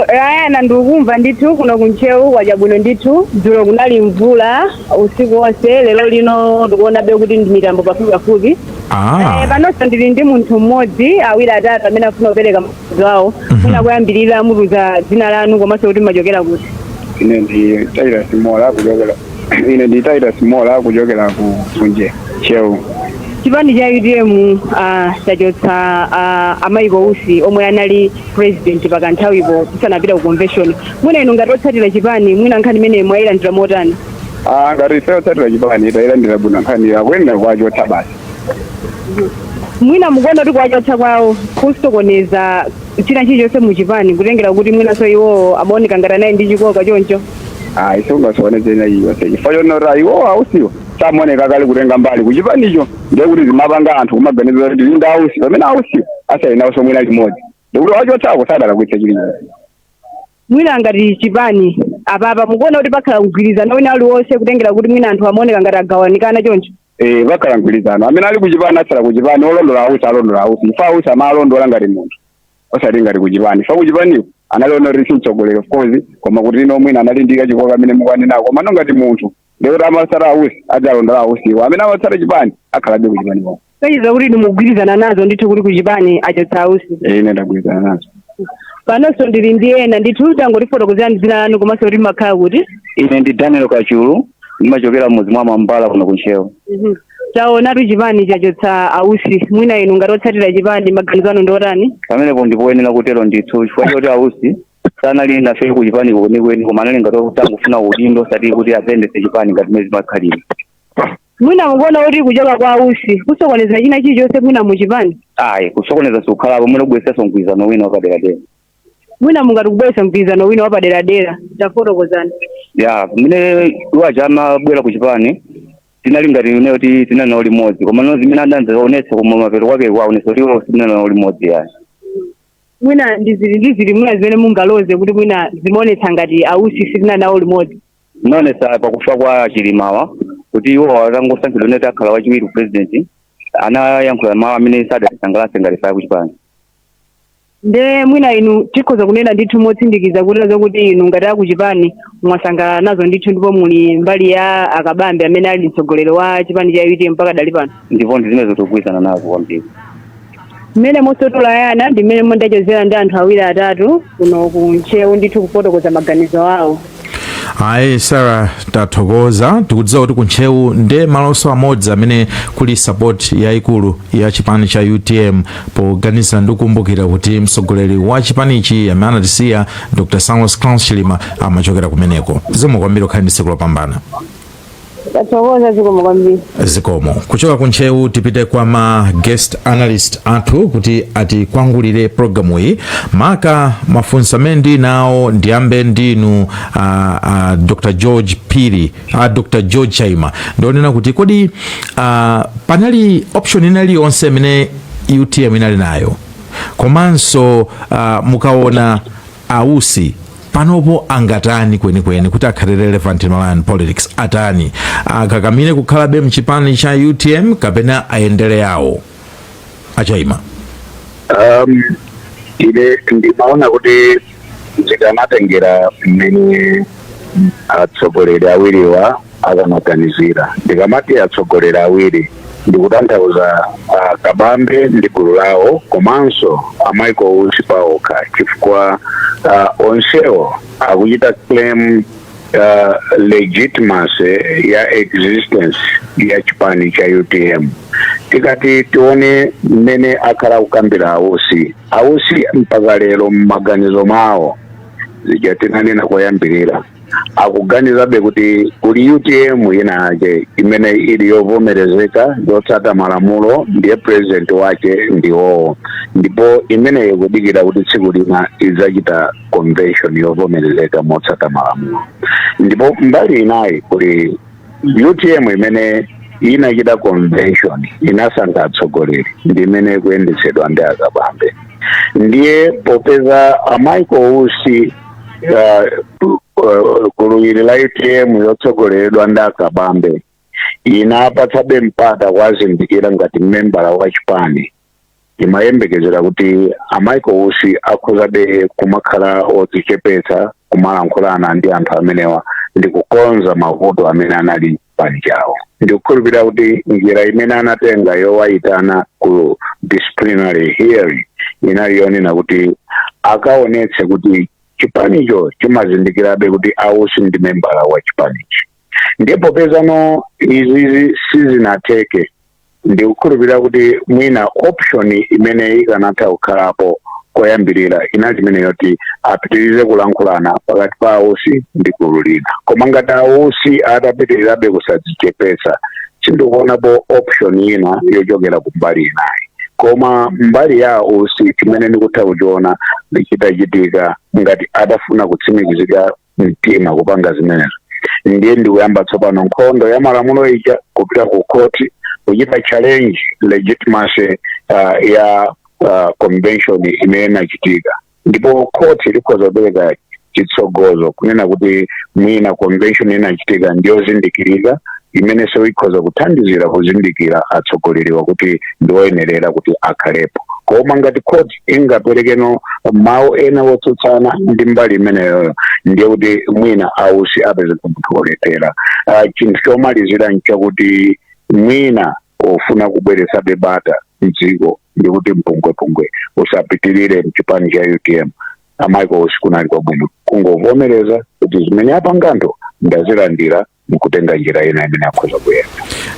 ya ndikumva ndithu kuno ku ntcheu kwacha bwino ndithu dzulo kunali mvula usiku wonse lero lino tikuonabe kuti ndi mitambo pafupipafupi Ah. Eh, panonso ndili ndi munthu mmodzi awiri atatu amene afuna kupereka maganizo awo mwina kuyambirira mutiuza dzina lanu komanso kuti mumachokera kuti ine ndi taira simola kuchokera ine ndi taira simola kuchokera ku ku ntcheu chipani cha utm ah, chachotsa ah, a Michael Usi omwe anali president pakanthawipo tisanapita ku convention mwina inu ngati otsatira chipani mwina nkhani imeneyi mwayilandira motani Ah, ngati ifeyo otsatira chipani tayilandira bwino nkhani yakuyenera kuwachotsa basi mwina mukuona kuti kuwachotsa kwawo kusokoneza china chilichonse muchipani kutengera kuti mwinanso iwowo amaoneka ngati anali ndi chikoka choncho ayi sizingasokoneze nayonse chifukwa choti iwo ausiwo samaoneka kale kutenga mbali kuchipanicho ndiye kuti zimapanga anthu kumaganiza kuti ali nda ausi pamene ausiwo asayendawo so mwina chimodzi ndikuti kuwachotsako sadalakwitsa chilichonse mwina ngati chipani apapa mukuona kuti pakhala mgwirizano wina uliwonse kutengera kuti mwina anthu amaoneka ngati agawanikana choncho eh pakhala mgwirizano amene ali kuchipani atsala kuchipani olondola ausi alondola ausi chifukwa ausi amalondola ngati munthu osati ngati kuchipani ife kuchipaniko tinaona kuti simtsogoleri of course koma kuti ino mwina anali ndi kachikoka amene mukunenako komano ngati munthu ndikuti amatsata ausi adzalondola ausiwo amene amatsata chipani akhalabe kuchipani konko ndiye kuti inu mukugwirizana nazo ndithu kuti kuchipani achotsa ausi Eh, ine ndagwirizana nazo panonso ndili ndi ena ndithu tangotifotokozerani dzina lanu komanso kuti mumakhala kuti ine ndi daniel kachulu ndimachokera mudzi mwa mambala kuno kuntcheu Mhm. taonatu chipani chachotsa ausi mwina inu ngati otsatira chipani maganizo anu ndi otani pamenepo ndipoyenera kutero ndithu chifukwa choti ausi sanali nafe ku chipani kwenikweni koma anali ngati otangofuna udindo osati kuti ayendetse chipani ngati mmene zimakhalira mwina mukuona kuti kuchoka kwa ausi kusokoneza china chilichonse mwina muchipani ayi kusokoneza sikukhalapo mwina kubweresanso mgwirizano wina wapaderadera mwina mungati kubweretsa mgwirizano wina wapaderadera tafotokozani ya pamene iwo aja amabwera ku chipani tinali ngati kuti tinali nawo limodzi komano zimene adadzaonetsa kumapeto kwake kwaonetsa kuti iwo sitinali nawo limodzi yayi mwina ndi ziti mwina zimene mungaloze kuti mwina zimaonetsa ngati ausi sitinali nawo limodzi zinaonesa pakufa kwa chilimawa kuti iwo atangosankhidwa nati akhala wachiwiri president anayankhula mawu amene sadatisangalase ngati ife a kuchipani nde mwina inu tikhoza kunena ndithu motsindikiza kuti zakuti inu ngati akuchipani mwasangalala nazo ndithu ndipo muli mbali ya akabambe amene ali mtsogoleri wa chipani cha utm mpaka dali pano ndipo ndi zimene tikugwirizana nazo kwambiri mmene monso tolayana ndi mmene mondachezera ndi anthu awiri atatu kuno ku ntcheu ndithu kufotokoza maganizo awo ayi sara tathokoza tikudziwa kuti kuntcheu ndi malonso amodzi amene kuli support yayikulu ya chipani cha utm poganizira ndi kukumbukira kuti mtsogoleri wa chipanichi amene anatisiya dr saulos claus chilima amachokera kumeneko zikomo kwambiri ukhale ndi tsiku lopambana tathokoza zikomo kwambiri zikomo kuchoka ku ntcheu tipite kwa ma guest analyst athu kuti atikangulire programu iyi maka mafunso amene ndi nawo ndiyambe ndinu a, a, dr george phiri a, dr george chaima ndi onena kuti kodi a, panali option ina iliyonse imene utm inali nayo komanso uh, mukaona a usi panopo angatani kwenikweni kuti akhale relevant in malawian politics atani akakamire kukhalabe mchipani cha utm kapena ayendere yawo achaima um, ine ndimaona kuti zikanatengera mmene atsogoleri awiriwa akanaganizira ndikamati atsogoleri awiri ndikutanthauza ah, kabambe ndi gulu lawo komanso a michael usi paokha chifukwa ah, onsewo akuchita claim ah, legitimacy ya existence ya chipani cha utm tikati tione mmene akhala akukambira ausi ausi mpaka lero m'maganizo mawo zija tinanena koyambirira akuganizabe kuti kuli utm ina yake imene ili yovomerezeka yotsata malamulo ndiye president wake ndiwowo ndipo imeneyo ikudikira kuti tsiku lina idzachita convention yovomerezeka motsata malamulo ndipo mbali inayi kuli utm imene inachita convention inasankha atsogoleri ndi imene ikuyendetsedwa ndi akabambe ndiye popeza a michael usi uh, uh, gulu ili la utm yotsogoleredwa ndi akabambe inapatsabe mpata kuwazindikira ngati membala wa chipani timayembekezera kuti a michael usi akhozabe kumakhala odzichepetsa kumalankhulana ndi anthu amenewa ndi kukonza mavuto amene anali chipani chawo ndikukhulupirira kuti njira imene anatenga yowayitana ku disciplinary hearing inali yonena kuti akaonetse kuti chipanicho chimazindikirabe kuti ausi ndi membala wa chipanichi ndipo popeza ano izizi sizinatheke ndikukhulupirira kuti mwina option imene ikanatha kukhalapo koyambirira inali imene yoti apitirize kulankhulana pakati pa ausi ndi gulu lina koma ngati ausi atapitirirabe kusadzichepetsa sindikuonapo option ina yochokera ku mbali inayi koma mbali ya ausi chimene ndikutha kuchiona ndichitachitika ngati atafuna kutsimikizika mtima kupanga zimenezo ndiye ndikuyamba tsopano nkhondo ya malamulo ija kupita ku khoti kuchita challenge legitimacy uh, ya uh, convention imene inachitika ndipo khoti likhoza kupereka chitsogozo kunena kuti mwina convention inachitika ndiyozindikirika imene so ikhoza kuthandizira kuzindikira atsogoleriwa kuti ndioyenerera kuti akhalepo koma ngati khoti lingaperekeno mawu ena wotsutsana ndi mbali imeneyoyo ndiye kuti mwina ausi apeze munthu wolephera Ah, chinthu chomalizira nchakuti mwina ofuna kubweretsabe bata mdziko ndi kuti mpungwepungwe usapitirire mchipani cha utm a michael usi kunali kwabwino kungovomereza kuti zimene apanga anthu ndazilandira ndikutenga njira ina imene akhoza kuyenda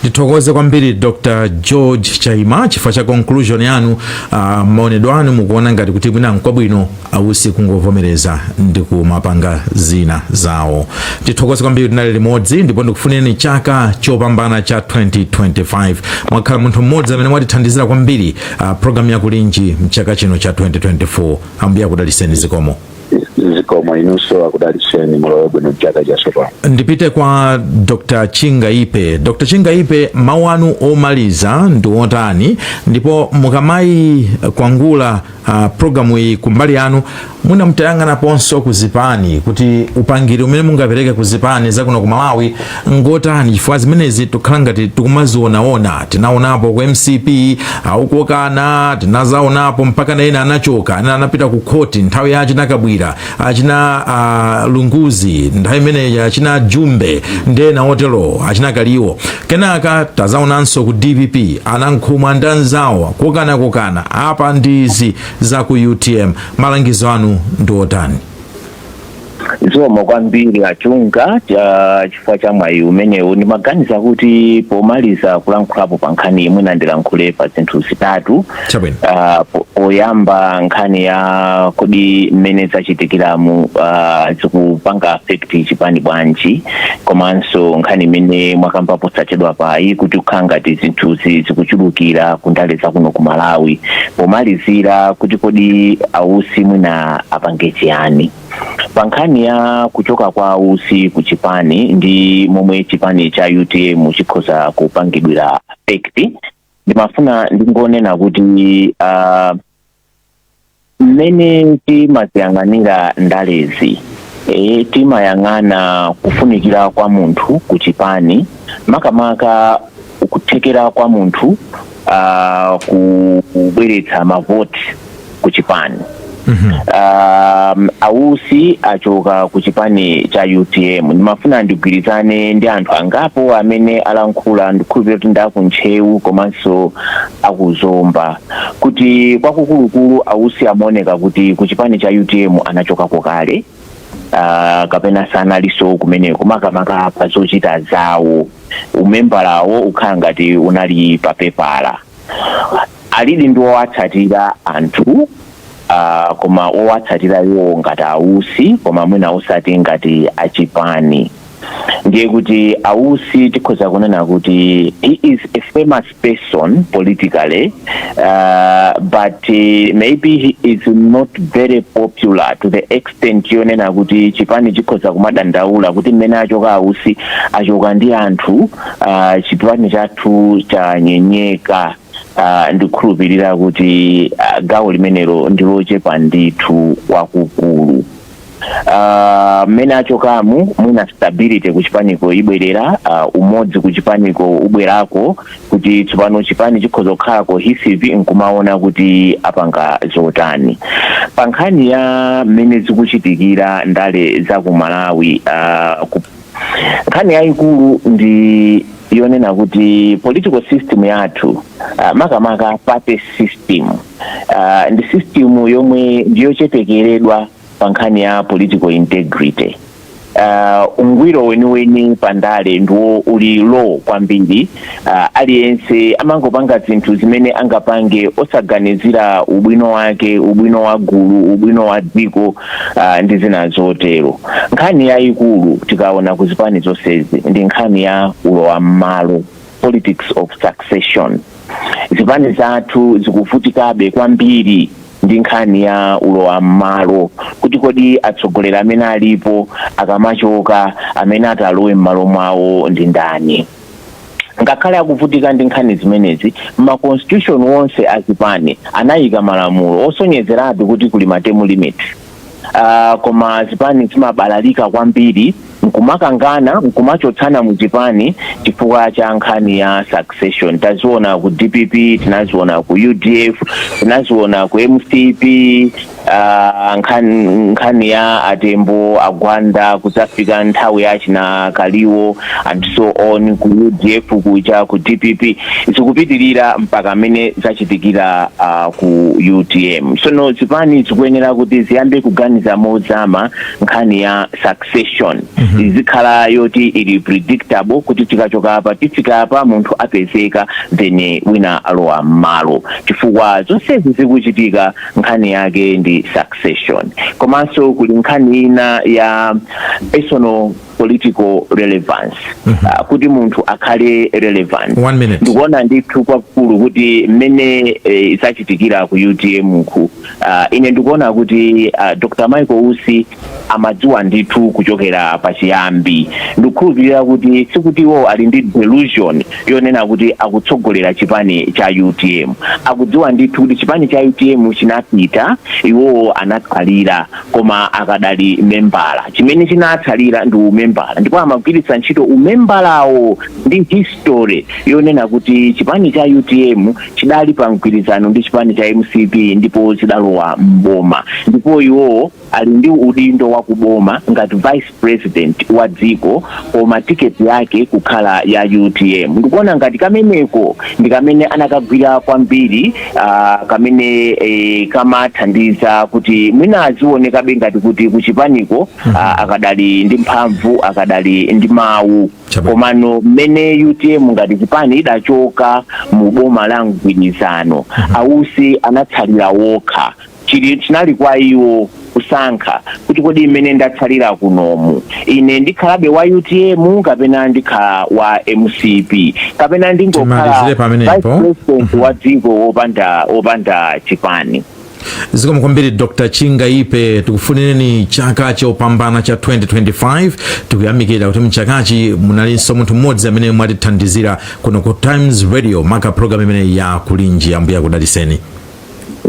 ndithokoze kwambiri dr george chaima chifukwa cha conclusion yanu uh, maonedwe anu mukuona ngati kuti mwina nkwabwino ausi kungovomereza ndi kumapanga zina zawo ndithokoze kwambiri tinali limodzi ndipo ndikufunireni chaka chopambana cha 2025 mwakhala munthu mmodzi amene mwatithandizira kwambiri uh, programu ya kulinji mchaka chino cha 2024 ambuye akudaliseni zikomo zikomo inunso akudalitseni mulowe bwino mchaka chatsopano ndipite kwa dr chingaipe dr chingaipe mawu anu omaliza ndi otani ndipo mukamayikwangula uh, programu iyi kumbali yanu mwina mutayang'anaponso ku zipani kuti upangiri umene mungapereke ku zipani zakuno ku malawi ngotani chifukwa zimenezi tikhala ngati tikumazionaona tinaonapo ku mcp akukokana tinazaonapo mpaka na ena anachoka ena anapita ku khoti nthawi ya achina kabwira achina uh, lunguzi nthawi imeneyi achina jumbe ndi ena otero achina kaliwo kenaka tazaonanso ku dpp anankhumwa ndi anzawo kokanakokana apa ndi izi za ku utm malangizo anu ndi otani zikomo kwambiri achunga cha chifukwa cha mwayi umenewu ndimaganiza kuti pomaliza kulankhulapo pa nkhani imeneyi ndilankhule pa zinthu zitatu Chabwino. Ah, po- poyamba nkhani ya kodi mmene zachitikiramu ah, zikupanga affect chipani bwanji komanso nkhani imene mwakamba posachedwapayi kuti kukhala ngati zinthuzi zikuchulukira kundale zakuno ku malawi pomalizira kuti kodi ausi mwina apange chiyani pa nkhani ya kuchoka kwa usi ku chipani ndi momwe chipani cha utm chikhoza kupangidwira affect ndimafuna ndingonena kuti uh, mmene timaziyang'anira ndalezi e, timayang'ana kufunikira kwa munthu ku chipani makamaka kuthekera kwa munthu ah, ku- kubweretsa mavoti ku chipani um, ausi achoka ku chipani cha utm ndimafuna ndigwirizane ndi anthu angapo amene alankhula ndikhulupirira kuti ndi akuntcheu komanso akuzomba kuti kwakukulukulu ausi amaoneka kuti ku chipani cha utm anachokako kale ah, kapena sanalinso kumeneko makamaka pa zochita zawo umembala wawo ukhala ngati unali pa pepala alidi ndi owatsatira anthu ah, koma owatsatira iwo ngati ausi koma mwina osati ngati achipani ndiye kuti ausi tikhoza kunena kuti he is a famous person politically uh, but uh, maybe he is not very popular to the extent yonena kuti chipani chikhoza kumadandaula kuti mmene achoka ausi achoka ndi anthu uh, chipani chathu chanyenyeka uh, ndikukhulupirira kuti uh, gawo limenelo ndilochepa ndithu kwakukulu Ah, mmene achokamu mwina stability kuchipaniko ibwerera ah, umodzi kuchipaniko ubwerako kuti tsopano chipani chikhoza kukhala cohesive nkumaona kuti apanga zotani pa nkhani ya mmene zikuchitikira ndale za ku malawi ah, ku- nkhani yayikulu ndi yonena kuti political system yathu uh, makamaka party system uh, ndi system yomwe ndiyochepekeredwa pa nkhani ya political integrity uh, ungwiro weniweni pandale ndiwo uli low kwambiri uh, aliyense amangopanga zinthu zimene angapange osaganizira ubwino wake ubwino wa gulu ubwino wa dziko uh, ndi zina zotero nkhani yayikulu tikaona ku zipani zonsezi ndi nkhani ya ulowa mmalo politics of succession zipani zathu zikuvutikabe kwambiri ndi nkhani ya ulowa mmalo kuti kodi atsogoleri amene alipo akamachoka amene atalowe mmalo mwawo ndi ndani ngakhale akuvutika ndi nkhani zimenezi ma constitution onse azipani anayika malamulo osonyezeratu kuti kuli ma term limit uh, koma zipani zimabalalika kwambiri nkumakangana nkumachotsana mu zipani chifukwa cha nkhani ya succession taziona ku dpp tinaziona ku udf tinaziona ku mcp Ah, nkhani ya a tembo a gwanda kudzafika nthawi ya achina kaliwo and so on ku udf kuja ku dpp zikupitirira mpaka amene zachitikira ah, ku utm sono zipani zikuyenera kuti ziyambe kuganiza mozama nkhani ya succession izikhala yoti ili predictable kuti tikachoka apa tifika apa munthu apezeka then wina alowa mmalo chifukwa zonsezi zikuchitika nkhani yake ndi succession komanso kuli nkhani ina ya personal political relevance mm -hmm. uh, kuti munthu akhale relevant One minute. ndikuona ndithu kwakulu kuti mmene eh, zachitikira ku utm ku uh, ine ndikuona kuti uh, dr michael usi amadziwa ndithu kuchokera pachiyambi ndikukhulupirira kuti sikuti iwowo ali ndi delusion yonena kuti akutsogolera chipani cha utm akudziwa ndithu kuti chipani cha utm chinapita iwowo anatsalira koma akadali membala chimene chinatsalira ndi umembala ndipo amagwiritsa ntchito umembalawo ndi history yonena kuti chipani cha utm chidali pa mgwirizano ndi chipani cha mcp ndipo chidalowa mboma ndipo iwowo ali ndi udindo wa kuboma ngati vice president wa dziko koma tiketi yake kukhala ya utm ndikuona ngati kameneko ndi kamene anakagwira kwambiri uh, kamene eh, kamathandiza kuti mwina azionekabe ngati kuti kuchipaniko uh, akadali ndi mphamvu akadali ndi mawu Chabwino. komano mmene utm ngati chipani idachoka mu boma la mgwirizano a usi anatsalira okha Chi, chinali kwa iwo kusankha, kuti kodi mmene ndatsalira kunomu, ine ndikhalabe wa utm kapena ndikhala wa mcp, kapena ndingokhala vice president wa dziko wopanda, wopanda chipani. zikomo kwambiri dr chingaipe tikufunireni chaka chopambana cha 2025 tikuyamikira kuti mchakachi munalinso munthu mmodzi amene mwatithandizira kuno ku times radio maka program imene ya kulinji ambuye akudaliseni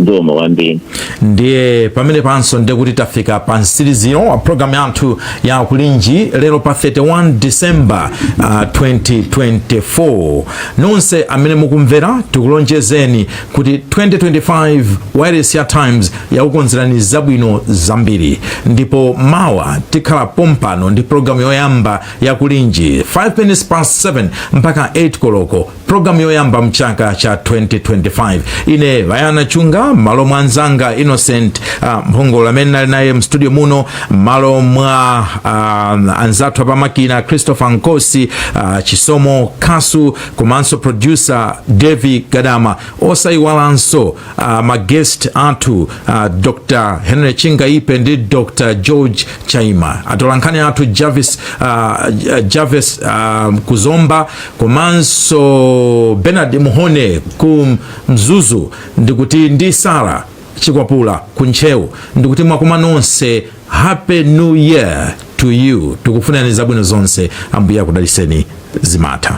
zikomo kwambiri ndiye pamene panso ndiye kuti tafika pa mtsiriziro wa programu yathu ya kulinji lero pa 31 december uh, 2024 nonse amene mukumvera tikulonjezeni kuti 2025 wireless ya times yakukonzerani zabwino zambiri ndipo mawa tikhala pompano ndi programu yoyamba ya kulinji 5 minutes past 7 mpaka 8 koloko pulogalamu yoyamba mchaka cha 2025 ine wayana chunga mmalo mwa anzanga innocent uh, mphongolo amene ndinali naye mstudio muno mmalo mwa uh, anzathu apamakina christopher nkosi uh, chisomo kasu komanso producer davie gadama osayiwalanso uh, maguest athu uh, dr henry chingaipe ndi dr george chaima atolankhani athu javis, uh, javis uh, ku zomba komanso bernard mhone ku mzuzu ndikuti ndi sara chikwapula ku ntcheu ndikuti mwakuma nonse happy new year to you tikufunani zabwino zonse ambuye akudaliseni zimatha